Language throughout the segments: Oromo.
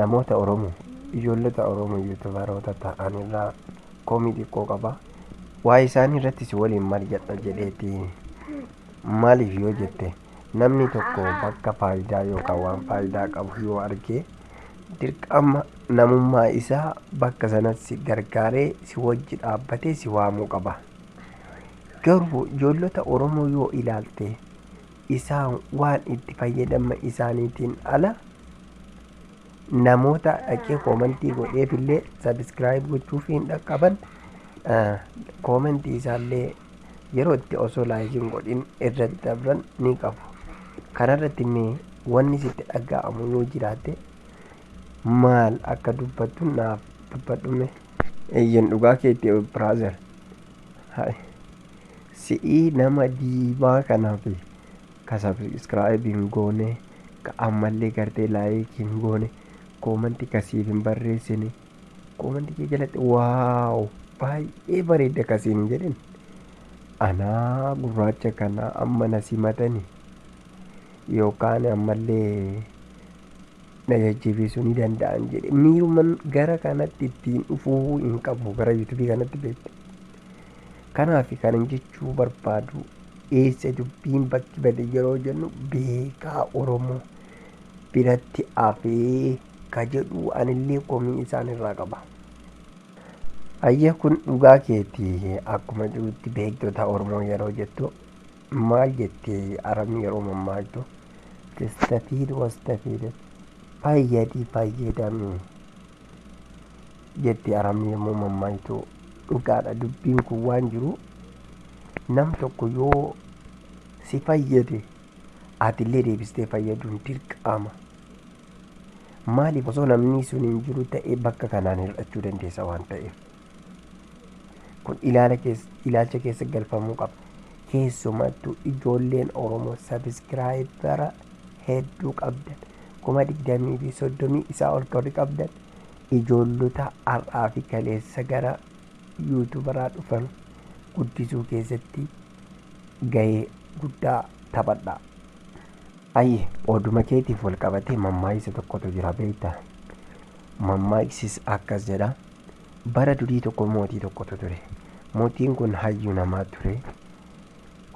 Namoota oromo ijoollota oromo youtuberoota ta'an irraa komii xiqqoo qaba. Waa'ee isaanii irratti si waliin mari'adha jedheeti. Maaliif yoo jette namni tokko bakka faayidaa yookaan waan faayidaa qabu yoo arge dirqama namummaa isaa bakka sanatti gargaaree si wajji dhaabbatee si waamuu qaba. Garuu ijoollota oromoo yoo ilaalte isaan waan itti fayyadama isaaniitiin ala namoota dhaqee koomentii godheef illee sabiskiraayib gochuuf hin dhaqqaban koomentii isaallee yeroo itti osoo laayikiin godhin irra dabran ni qabu. Kanarratti mee wanni sitti dhaga'amu yoo jiraate maal akka dubbattu naaf dubbadhume. Eeyyen dhugaa keetti brother Hay si'ii nama diimaa kanafi ka subscribe hin goone ka ammallee gartee like hin goone comment ka siif hin barreessine comment kee jalatti waaw baay'ee bareedda ka siin hin jedhin anaa gurraacha kana amma na simatani yookaan ammallee na jajjabeessuu ni danda'an jedhe miiruman gara kanatti ittiin dhufuu hin qabu gara yuutubii kanatti beekta kanaaf kanan jechuu barbaadu eessa dubbiin bakki bade yeroo jennu beekaa oromoo biratti afee ka jedhu anillee komii isaan irraa qaba. Ayyee kun dhugaa keeti akkuma jirutti beektota oromoo yeroo jettu Maal jette Aram yeroo mammaaltu? Testafiid wastafiid Fayyadi fayyadami jetti Aram yommuu mammaaktu. Dhugaadha dubbiin kun waan jiru nam tokko yoo si fayyade atillee deebistee fayyaduun dirqama. Maaliif osoo namni sun hin jiru ta'e bakka kanaan hir'achuu dandeessa waan ta'eef. Kun ilaala keessa, ilaalcha keessa galfamuu qaba. Keessumattuu ijoolleen Oromoo sabiskiraayibara hedduu qabdan kuma digdamii fi soddomii isaa ol korri qabdan ijoollota har'aa fi kaleessa gara yuutubaraa dhufan guddisuu keessatti gahee guddaa taphadha. Ayye, oduma keetiif wal qabatee mammaaksa tokkotu jira beektaa? Mammaaksiis akkas jedha. Bara durii tokko mootii tokkotu ture. Mootiin kun hayyuu namaa ture.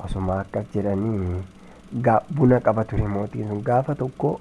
Osuma akkas jedhanii gaa buna qaba ture mootiin sun. Gaafa tokko